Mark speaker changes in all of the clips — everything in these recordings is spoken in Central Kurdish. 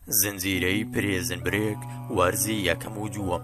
Speaker 1: زنجیرەی پرێزن برێک وەرزی یەکەم و دووەم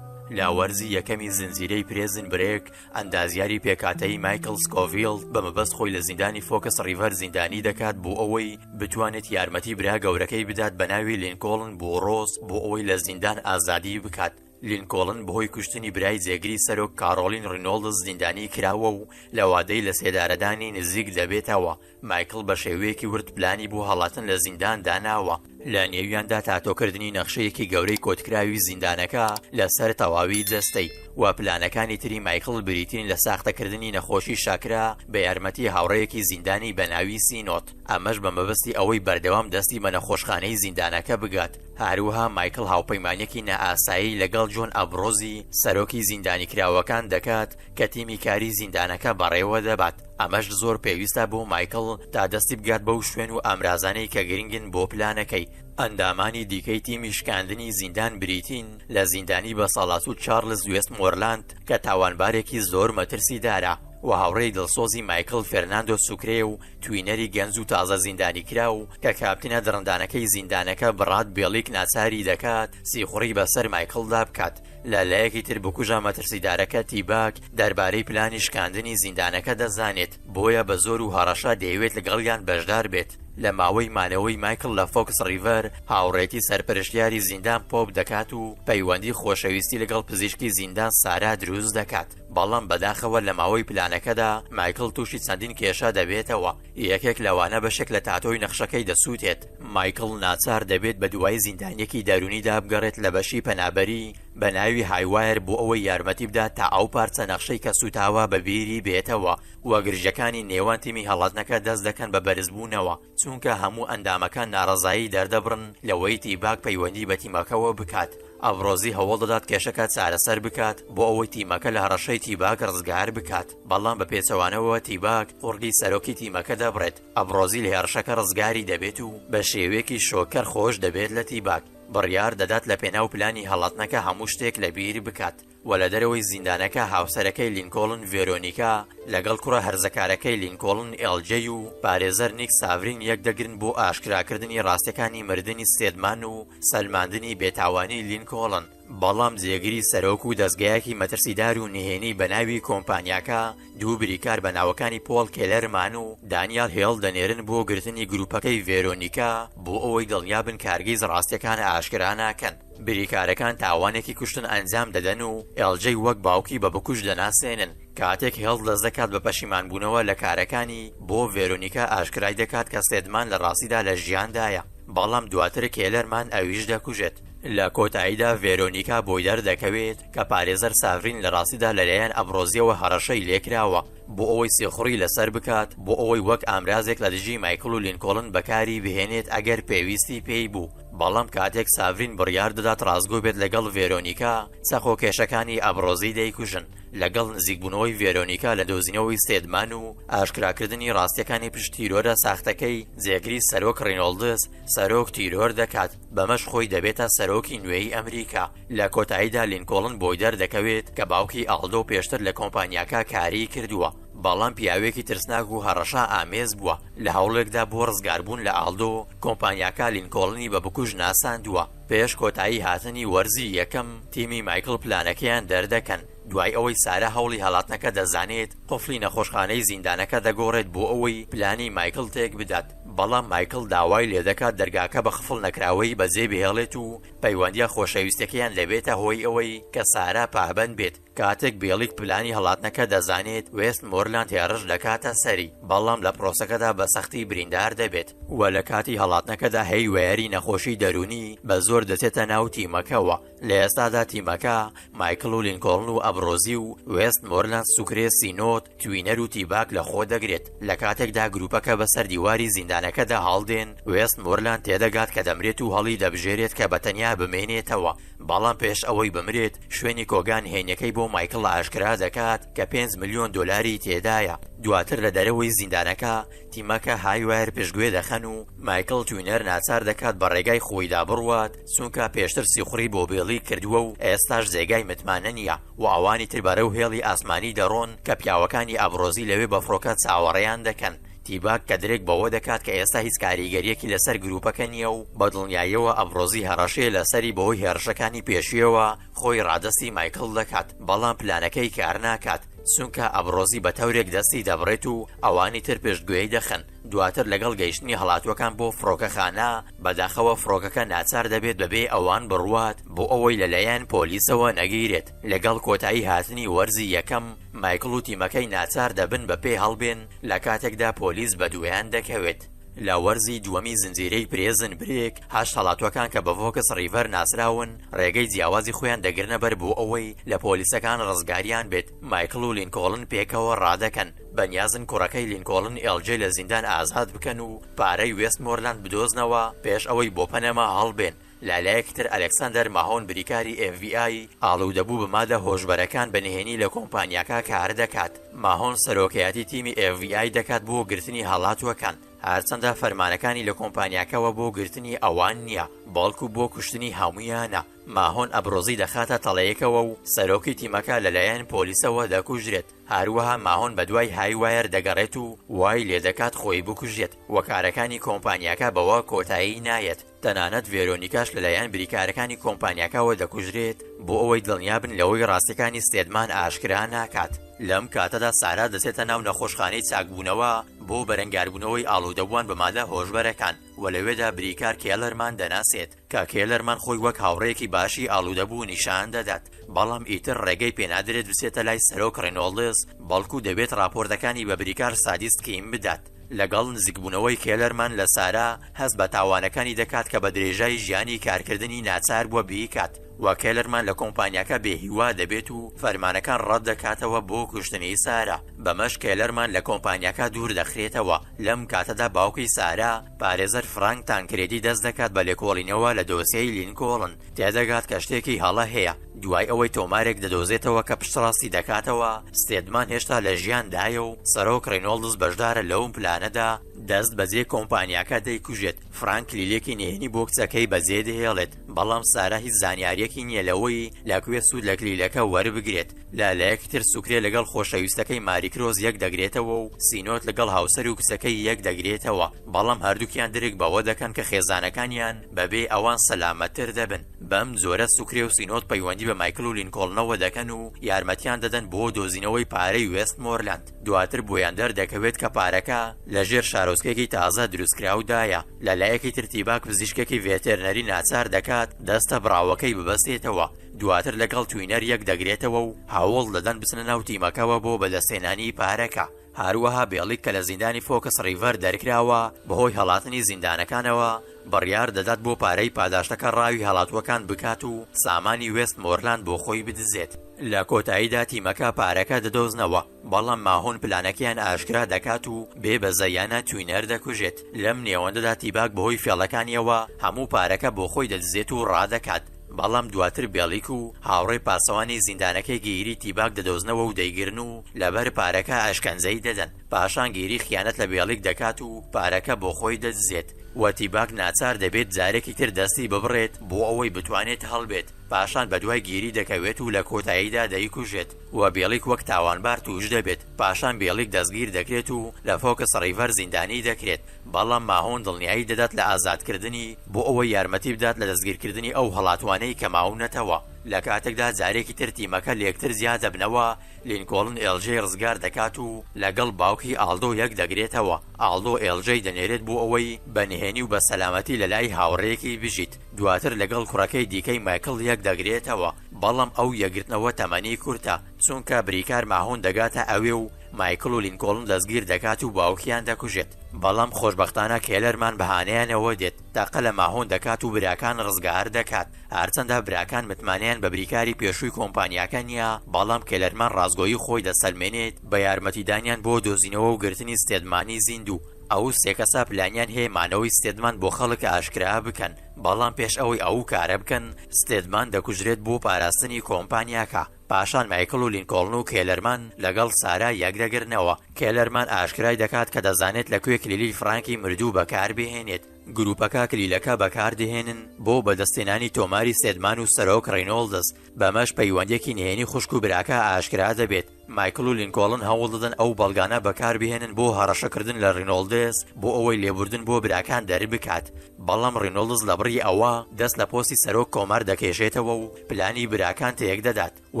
Speaker 1: لە وەرزی یەکەمی زنجیرەی پرێزن برێک ئەندازیاری پێکاتەی مایکل سکۆڤیل بە مەبەست خۆی لە زیندانی فۆکەس ڕیڤەر زیندانی دەکات بۆ ئەوەی بتوانێت یارمەتی برا گەورەکەی بدات بە ناوی لینکۆڵن بۆ ڕۆز بۆ ئەوەی لە زیندان ئازادی بکات لینکۆڵن بەهۆی کوشتنی برای جێگری سەرۆک کارۆڵین ڕینۆڵدز زیندانی کراوە و لە وادەی لەسێدارەدانی نزیک دەبێتەوە، مایکڵ بە شێوەیەکی ورد پلانی بۆ هەڵاتن لە زیندان داناوە، لە نێویاندا تاتۆکردنی نەخشەیەکی گەورەی کۆتکراوی زیندانەکە لەسەر تەواوی جەستەی، وە پلانەکانی تری مایکڵ بریتین لە ساختەکردنی نەخۆشی شاکرا بە یارمەتی هاوڕێیەکی زیندانی بەناوی سینۆت، ئەمەش بە مەبەستی ئەوەی بەردەوام دەستی بە نەخۆشخانەی زیندانەکە بگات. هەروەها مایکڵ هاوپەیمانییەکی نائاسایی لەگەڵ جۆن ئەبرۆزی سەرۆکی زیندانیکراوەکان دەکات کە تیمی کاری زیندانەکە بەڕێوەدەبات، ئەمەش زۆر پێویستە بۆ مایکڵ تا دەستی بگات بەو شوێن و ئامرازانەی کە گرنگن بۆ پلانەکەی. ئەندامانی دیکەی تیمی شکاندنی زیندان بریتین لە زیندانی بەساڵاچوو چارلز وێستمۆرلاند کە تاوانبارێکی زۆر مەترسیدارە و هاوڕێی دڵسۆزی مایکڵ فێرناندۆ سوکرێ و توینەری گەنج و تازە زیندانیکراو کە کاپتنە دڕندانەکەی زیندانەکە بڕاد بێڵیک ناچاری دەکات سیخوڕی بەسەر مایکڵدا بکات، لە لایەکی تر بکوژە مەترسیدارەکە تیباک دەربارەی پلانی شکاندنی زیندانەکە دەزانێت، بۆیە بە زۆر و هەڕەشە دەیەوێت لەگەڵیان بەشدار بێت. لە ماوەی مانەوەی مایکڵ لە فۆکس ڕیڤەر، هاوڕێتی سەرپەرشتیاری زیندان پۆپ دەکات و پەیوەندی خۆشەویستی لەگەڵ پزیشکی زیندان سارا دروست دەکات، بەڵام بەداخەوە لە ماوەی پلانەکەدا مایکڵ تووشی چەندین کێشە دەبێتەوە، یەکێک لەوانە بەشێک لە تاتۆی نەخشەکەی دەسووتێت، مایکڵ ناچار دەبێت بەدوای زیندانییەکی دەروونیدا بگەڕێت لە بەشی پەنابەری بە ناوی هایوایر بۆ ئەوەی یارمەتی بدات تا ئەو پارچە نەخشەی کە سووتاوە بەبیری بێتەوە و گرژییەکانی نێوان تیمی هەڵاتنەکە دەست دەکەن بە بەرزبوونەوە. چونکە هەموو ئەندامەکان ناڕەزایی دەردەبڕن لەوەی تیباک پەیوەندی بە تیمەکەوە بکات، ئەڤرۆزی هەوڵ دەدات کێشەکە چارەسەر بکات بۆ ئەوەی تیمەکە لە هەڕەشەی تیباک ڕزگار بکات، بەڵام بە پێچەوانەوە تیباک قوڕگی سەرۆکی تیمەکە دەبڕێت، ئەڤرۆزی لە هێڕشەکە ڕزگاری دەبێت و بە شێوەیەکی شۆککەر خۆش دەبێت لە تیباک، بڕیار دەدات لەپێناو پلانی هەڵاتنەکە هەموو شتێک لەبیر بکات. و لە دەرەوەی زیندانەکە هاوسەرەکەی لینکۆڵن ڤێرۆنیکا لەگەڵ کوڕە هەرزەکارەکەی لینکۆڵن ئێڵ جەی و پارێزەر نیک ساڤرین یەکدەگرن بۆ ئاشکراکردنی ڕاستیەکانی مردنی ستێدمان و سەلماندنی بێتاوانی لینکۆڵن، بەڵام جێگری سەرۆک و دەزگایەکی مەترسیدار و نهێنی بەناوی کۆمپانیاکە، دوو بریکار بە ناوەکانی پۆڵ کێلەرمان و دانیال هێڵ دەنێرن بۆ گرتنی گروپەکەی ڤێرۆنیکا بۆ ئەوەی دڵنیابن کارگیز ڕاستیەکان ئاشکرا ناکەن. بریکارەکان تاوانێکی کوشتن ئەنجام دەدەن و ئێڵجەی وەک باوکی بە بکوژ دەناسێنن، کاتێک هێڵ دەست دەکات بە پەشیمانبوونەوە لە کارەکانی بۆ ڤێرۆنیکا ئاشکرای دەکات کە سێدمان لە ڕاستیدا لە ژیاندایە، بەڵام دواتر کێلەرمان ئەویش دەکوژێت. لە کۆتاییدا ڤێرۆنیکا بۆی دەردەکەوێت کە پارێزەر ساڤین لە ڕاستیدا لەلایەن ئەمبرۆزیەوە هەڕەشەی لێکراوە بۆ ئەوەی سیخوڕی لەسەر بکات بۆ ئەوەی وەک ئامرازێک لە دژی مایکڵ و لینکۆڵن بەکاری بهێنێت ئەگەر پێویستی پێی بوو بەڵام کاتێک ساڤین بڕیار دەدات ڕاستگۆ بێت لەگەڵ ڤێرۆنیکا چەقۆکێشەکانی ئەمبرۆزی دەیکوژن لەگەڵ نزیکبوونەوەی ڤێرۆنیکا لە دۆزینەوەی ستێدمان و ئاشکراکردنی ڕاستیەکانی پشت تیرۆرە ساختەکەی جێگری سەرۆک ڕینۆڵدس سەرۆک تیرۆر دەکات بەمەش خۆی دەبێتە سەرۆکی نوێی ئەمریکا. لە کۆتاییدا لینکۆڵن بۆی دەردەکەوێت کە باوکی ئاڵدۆ پێشتر لە کۆمپانیاکە کاریی کردووە، بەڵام پیاوێکی ترسناک و هەڕەشە ئامێز بووە. لە هەوڵێکدا بۆ ڕزگاربوون لە ئاڵدۆ، کۆمپانیاکە لینکۆڵنی بە بکوژ ناساندووە. پێش کۆتایی هاتنی وەرزی یەکەم، تیمی مایکڵ پلانەکەیان دەردەکەن. دوای ئەوەی سارا هەوڵی هەڵاتنەکە دەزانێت، قفڵی نەخۆشخانەی زیندانەکە دەگۆڕێت بۆ ئەوەی پلانی مایکڵ تێکبدات، بەڵام مایکڵ داوای لێدەکات دەرگاکە بە قفڵ نەکراوەی بەجێبهێڵێت و پەیوەندییە خۆشەویستەکەیان دەبێتە هۆی ئەوەی کە سارا پابەند بێت. کاتێک بێڵیک پلانی هەڵاتنەکە دەزانێت، وێستمۆرلاند هێڕش دەکاتە سەری، بەڵام لە پرۆسەکەدا بە سەختی بریندار دەبێت و لە کاتی هەڵاتنەکەدا هەیوێەری نەخۆشی دەروونی بەزۆر دەچێتە ناو تیمەکەوە. لە ئێستادا تیمەکە، مایکڵ و لینکۆڵن و ئەبڕۆزی و وێست مۆرلاند سوکرێ سینۆد، توینەر و تیباک لەخۆ دەگرێت، لە کاتێکدا گروپەکە بە سەر دیواری زیندانەکەدا هەڵدێن، وێست مۆرلاند تێدەگات کە دەمرێت و هەڵی دەبژێرێت کە بە تەنیا بمێنێتەوە، بەڵام پێش ئەوەی بمرێت، شوێنی کۆگا نهێنیەکەی بۆ مایکڵ ئاشکرا دەکات کە پێنج ملیۆن دۆلاری تێدایە، دواتر لە دەرەوەی زیندانەکە، تیمەکە هایوایر پشتگوێ دەخەن و مایکڵ توینەر ناچار دەکات بە ڕێگای خۆیدا بڕوات، چونکە پێشتر سیخوڕی بۆ بێڵی کردووە و ئێستاش جێگای متمانە نییە و ئەوانی تر بەرەو هێڵی ئاسمانی دەڕۆن کە پیاوەکانی ئەبرۆزی لەوێ بە فڕۆکە چاوەڕێیان دەکەن. تیباک کە درک بەوە دەکات کە ئێستا هیچ کاریگەرییەکی لەسەر گرووپەکە نییە و بە دڵنیاییەوە ئەبرۆزی هەڕەشەیە لەسەری بەهۆی هێڕشەکانی پێشوویەوە، خۆی ڕادەستی مایکڵ دەکات، بەڵام پلانەکەی کارناکات، چونکە ئەبرۆزی بە تەورێک دەستی دەبڕێت و ئەوانی تر پشتگوێی دەخەن. دواتر لەگەڵ گەیشتنی هەڵاتووەکان بۆ فڕۆکەخانە، بەداخەوە فڕۆکەکە ناچار دەبێت بەبێ ئەوان بڕوات بۆ ئەوەی لەلایەن پۆلیسەوە نەگیرێت، لەگەڵ کۆتایی هاتنی وەرزی یەکەم، مایکڵ و تیمەکەی ناچار دەبن بە پێ هەڵبێن لە کاتێکدا پۆلیس بەدوایان دەکەوێت. لە وەرزی دووەمی زنجیرەی پرێزن برێک، هەشت هەڵاتووەکان کە بە ڤۆکس ڕیڤەر ناسراون ڕێگەی جیاوازی خۆیان دەگرنەبەر بۆ ئەوەی لە پۆلیسەکان ڕزگاریان بێت، مایکڵ و لینکۆڵن پێکەوە ڕادەکەن، بەنیازن کوڕەکەی لینکۆڵن ئێڵ جەی لە زیندان ئازاد بکەن و پارەی وێستمۆرلاند بدۆزنەوە پێش ئەوەی بۆ پەنەما هەڵبێن، لە لایەکی تر ئەلێکساندەر ماهۆن بریکاری ئێف بی ئای ئاڵوودەبوو بە مادە هۆشبەرەکان بە نهێنی لە کۆمپانیاکە کار دەکات، ماهۆن سەرۆکایەتی تیمی ئێف بی ئای دەکات بۆ گرتنی هەڵاتووەکان، هەرچەندە فەرمانەکانی لە کۆمپانیاکەوە بۆ گرتنی ئەوان نییە بەڵکو بۆ کوشتنی هەموویانە، ماهۆن ئەبرۆزی دەخاتە تەڵەیەکەوە و سەرۆکی تیمەکە لەلایەن پۆلیسەوە دەکوژرێت. هەروەها ماهۆن بەدوای های وایەر دەگەڕێت و وای لێدەکات خۆی بکوژێت و کارەکانی کۆمپانیاکە بەوە کۆتایی نایەت، تەنانەت ڤێرۆنیکاش لەلایەن بریکارەکانی کۆمپانیاکەوە دەکوژرێت بۆ ئەوەی دڵنیابن لەوەی ڕاستیەکانی ستێدمان ئاشکرا ناکات. لەم کاتەدا سارا دەچێتە ناو نەخۆشخانەی چاکبوونەوە بۆ بەرەنگاربوونەوەی ئاڵودەبووان بە مادە هۆشبەرەکان و لەوێدا بریکار کێلەرمان دەناسێت، کاک هێلەرمان خۆی وەک هاوڕێیەکی باشی ئاڵودەبوو نیشان دەدات، بەڵام ئیتر ڕێگەی پێنادرێت بچێتە لای سەرۆک ڕێنۆڵدز، بەڵکو دەبێت ڕاپۆرتەکانی بە بریکار سادیست کیم بدات. لەگەڵ نزیکبوونەوەی هێلەرمان لە سارا، هەست بە تاوانەکانی دەکات کە بە درێژای ژیانی کارکردنی ناچاربووە بیکات، و کێلەرمان لە کۆمپانیاکە بێهیوا دەبێت و فەرمانەکان ڕەتدەکاتەوە بۆ کوشتنی سارا، بەمەش کێلەرمان لە کۆمپانیاکە دووردەخرێتەوە، لەم کاتەدا باوکی سارا، پارێزەر فرانک تانکرێدی دەست دەکات بە لێکۆڵینەوە لە دۆسێی لینکۆڵن، تێدەگات کە شتێکی هەڵە هەیە، دوای ئەوەی تۆمارێک دەدۆزێتەوە کە پشتڕاستی دەکاتەوە ستێدمان هێشتا لە ژیاندایە و سەرۆک ڕینۆڵدز بەشدارە لەو پلانەدا، دەست بەجێ کۆمپانیاکە دەیکوژێت، فرانک کلیلێکی نهێنی بۆ کچەکەی بەجێدەهێڵێت. بەڵام سارا هیچ زانیاریەکی نیە لەوەی لەکوێ سود لە کلیلەکە وەربگرێت، لالەیەک تر سوکرێ لەگەڵ خۆشەویستەکەی ماریکرۆس یەک دەگرێتەوە و سینۆد لەگەڵ هاوسەر و کچەکەی یەک دەگرێتەوە، بەڵام هەردوکیان درک بەوە دەکەن کە خێزانەکانیان بەبێ ئەوان سەلامەت تر دەبن، بەم جۆرە سوکرێ و سینۆد پەیوەندی بە مایکل و لینکۆڵنەوە دەکەن و یارمەتیان دەدەن بۆ دۆزینەوەی پارەی وێستمۆرلاند. دواتر بۆیان دەردەکەوێت کە پارەکە لە ژێر شارۆچکەیەکی تازە دروستکراودایە، لە لایەکی تر تیباک پزیشکێکی ڤێتێرنەری ناچار دەکات دەستە بڕاوەکەی ببەستێتەوە، دواتر لەگەڵ توینەر یەکدەگرێتەوە و هەوڵ دەدەن بچنە ناو تیمەکەوە بۆ بەدەستهێنانی پارەکە، هەروەها بێڵیک کە لە زیندانی فۆکس ڕیڤەر دەرکراوە بەهۆی هەڵاتنی زیندانەکانەوە، بڕیار دەدات بۆ پارەی پاداشتەکە ڕاوی هەڵاتووەکان بکات و سامانی وێست مۆرلاند بۆ خۆی بدزێت. لە کۆتاییدا تیمەکە پارەکە دەدۆزنەوە، بەڵام ماهۆن پلانەکەیان ئاشکرا دەکات و بێ بەزەیانە توینەر دەکوژێت. لەم نێوەندەدا تیباک بەهۆی فێڵەکانییەوە هەموو پارەکە بۆ خۆی دەدزێت و ڕادەکات، بەڵام دواتر بێڵیک و هاوڕێ پاسەوانی زیندانەکەی گییری تیباک دەدۆزنەوە و دەیگرن و لەبەر پارەکە ئەشکەنجەی دەدەن. پاشان گیری خیانەت لە بێڵیک دەکات و پارەکە بۆ خۆی دەدزێت و تیباک ناچار دەبێت جارێکی تر دەستی ببڕێت بۆ ئەوەی بتوانێت هەڵبێت، پاشان بەدوای گیری دەکەوێت و لە کۆتاییدا دەیکوژێت و بێڵیک وەک تاوانبار تووش دەبێت، پاشان بێڵیک دەستگیر دەکرێت و لە فۆکس ڕیڤەر زیندانی دەکرێت، بەڵام ماهۆن دڵنیایی دەدات لە ئازادکردنی بۆ ئەوەی یارمەتی بدات لە دەستگیرکردنی ئەو هەڵاتوانەی کە ماونەتەوە، لە کاتێکدا جارێکی تر تیمەکە لێکتر جیا دەبنەوە، لینکۆڵن ئێڵجەی ڕزگار دەکات و لەگەڵ باوکی ئاڵدۆ یەک دەگرێتەوە، ئاڵدۆ ئێڵجەی دەنێرێت بۆ ئەوەی بە نهێنی و بە سەلامەتی لەلای هاوڕێیەکی بژیت، دواتر لەگەڵ کوڕەکەی دیکەی مایکڵ یەک دەگرێتەوە، بەڵام ئەو یەکگرتنەوە تەمەنی کورتە، چونکە بریکار ماهون دەگاتە ئەوێ و مایکڵ و لینکۆڵن دەستگیر دەکات و باوکیان دەکوژێت، بەڵام خۆشبەختانە کێلەرمان بەهانەیانەوە دێت، تەقە لە ماهون دەکات و براکان ڕزگار دەکات. هەرچەندە براکان متمانەیان بە بریکاری پێشووی کۆمپانیاکە نییە، بەڵام کێلەرمان ڕاستگۆیی خۆی دەسەلمێنێت بە یارمەتیدانیان بۆ دۆزینەوە و گرتنی ستێدمانی زیندوو. ئەو سێ کەسە پلانیان هەیە مانەوەی ستێدمان بۆ خەڵک ئاشکرا بکەن، بەڵام پێش ئەوەی ئەو کارە بکەن، ستێدمان دەکوژرێت بۆ پاراستنی کۆمپانیاکە. پاشان مایکڵ و لینکۆڵن و کێلەرمان لەگەڵ سارا یەکدەگرنەوە. کێلەرمان ئاشکرای دەکات کە دەزانێت لە کوێ کلیلی فرانکی مردوو بەکاربهێنێت. گروپەکە کلیلەکە بەکاردەهێنن بۆ بەدەستهێنانی تۆماری سێدمان و سەرۆک ڕینۆڵدز، بەمەش پەیوەندیەکی نهێنی خوشک و براکە ئاشکرا دەبێت. مایکڵ و لینکۆڵن هەوڵدەدەن ئەو بەڵگانە بەکاربهێنن بۆ هەڕەشەکردن لە ڕینۆڵدز بۆ ئەوەی لێبوردن بۆ براکان دەربکات، بەڵام ڕینۆڵدز لەبڕی ئەوە دەست لە پۆستی سەرۆک کۆمار دەکێشێتەوە و پلانی براکان تێکدەدات و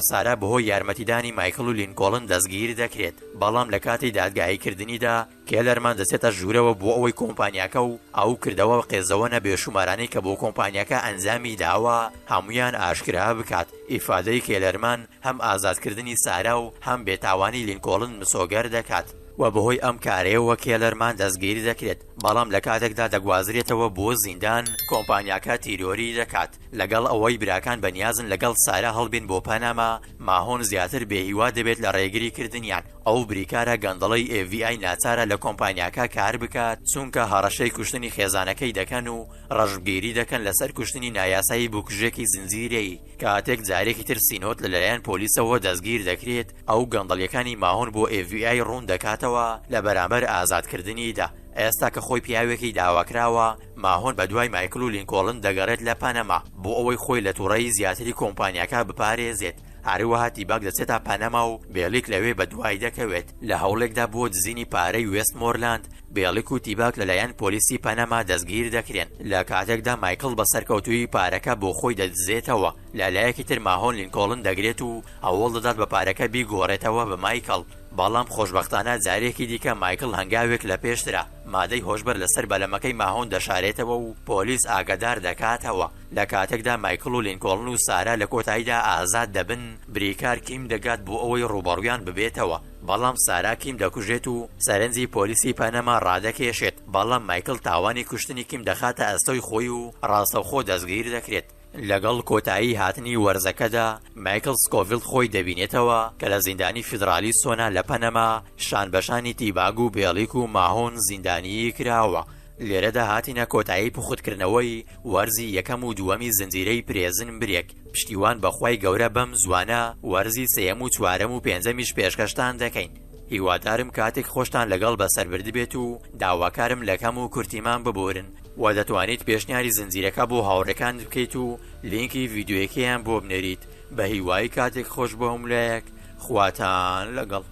Speaker 1: سارا بەهۆی یارمەتیدانی مایکڵ و لینکۆڵن دەستگیردەکرێت، بەڵام لەکاتی دادگاییکردنیدا کێلەرمان دەچێتە ژوورەوە بۆ ئەوەی کۆمپانیاکە و ئەو کردەوە قێزەوەنە بێشومارانەی کە بۆ کۆمپانیاکە ئەنجامی داوە هەموویان ئاشکرا بکات، ئیفادەی کێلەرمان هەم ئازادکردنی سارا و هەم بێتاوانی لینکۆڵن مسۆگەر دەکات، وە بەهۆی ئەم کارەیەوە کێلەرمان دەستگیر دەکرێت، بەڵام لە کاتێکدا دەگوازرێتەوە بۆ زیندان کۆمپانیاکە تیرۆری دەکات، لەگەڵ ئەوەی براکان بەنیازن لەگەڵ سارا هەڵبێن بۆ پەناما، ماهۆن زیاتر بێهیوا دەبێت لە ڕێگری کردنیان. ئەو بریکارە گەندەڵەی ئێف بی ئای ناچارە لە کۆمپانیاکە کار بکات چونکە هەڕەشەی کوشتنی خێزانەکەی دەکەن و ڕەشبگێری دەکەن لەسەر کوشتنی نایاسایی بوکژێکی زنجیرەیی، کاتێک جارێکی تر سینۆت لەلایەن پۆلیسەوە دەستگیر دەکرێت ئەو گەندەڵیەکانی ماهۆن بۆ ئێف بی ئای ڕوون دەکاتەوە لە بەرامبەر ئازاد کردنیدا، ئێستا کە خۆی پیاوێکی داواکراوە ماهۆن بەدوای مایکڵ و لینکۆڵن دەگەڕێت لە پەنەما بۆ ئەوەی خۆی لە توڕەیی زیاتری کۆمپانیاکە بپارێزێت. هەروەها تیباک دەچێتە پەنەما و بێڵیک لەوێ بەدوای دەکەوێت، لە هەوڵێکدا بۆ دزینی پارەی وێستمۆرلاند، بێڵیک و تیباک لەلایەن پۆلیسی پەنەما دەستگیر دەکرێن، لە کاتێکدا مایکڵ بە سەرکەوتوویی پارەکە بۆ خۆی دەدزێتەوە، لە لایەکی تر ماهۆن لینکۆڵن دەگرێت و هەوڵ دەدات بە پارەکە بیگۆڕێتەوە بە مایکڵ، بەڵام خۆشبەختانە جارێکی دیکە مایکڵ هەنگاوێک لە پێشترە، مادەی هۆشبەر لەسەر بەلەمەکەی ماهۆن دەشارێتەوە و پۆلیس ئاگادار دەکاتەوە. لە کاتێکدا مایکڵ و لینکۆڵن و سارا لە کۆتاییدا ئازاد دەبن، بریکار کیم دەگات بۆ ئەوەی ڕووبەڕوویان ببێتەوە، بەڵام سارا کیم دەکوژێت و سەرنجی پۆلیسی پەنەما ڕادەکێشێت، بەڵام مایکڵ تاوانی کوشتنی کیم دەخاتە ئەستۆی خۆی و ڕاستەوخۆ دەستگیر دەکرێت. لەگەڵ کۆتایی هاتنی وەرزەکەدا، مایکڵ سکۆڤیڵ خۆی دەبینێتەوە کە لە زیندانی فیدڕالی سۆنا لە پەنەما شانبەشانی تیباگ و بێڵیک و ماهۆن زیندانیی کراوە، لێرەدا هاتینە کۆتایی پوختکردنەوەی وەرزی یەکەم و دووەمی زنجیرەی پرێزن برێک، پشتیوان بە خوای گەورە بەم زووانە وەرزی سێیەم و چوارەم و پێنجەمیش پێشکەشتان دەکەین، هیوادارم کاتێک خۆشتان لەگەڵ بەسەر بردبێت و داواکارم لە کەم و کورتیمان ببورن و دەتوانیت پێشنیاری زنجیرەکە بۆ هاوڕێکانت بکەیت و لینکی ڤیدیۆیەکەیان بۆ بنێریت بەهیوای کاتێک خۆش بۆ هەموولایەک خواتان لەگەڵ.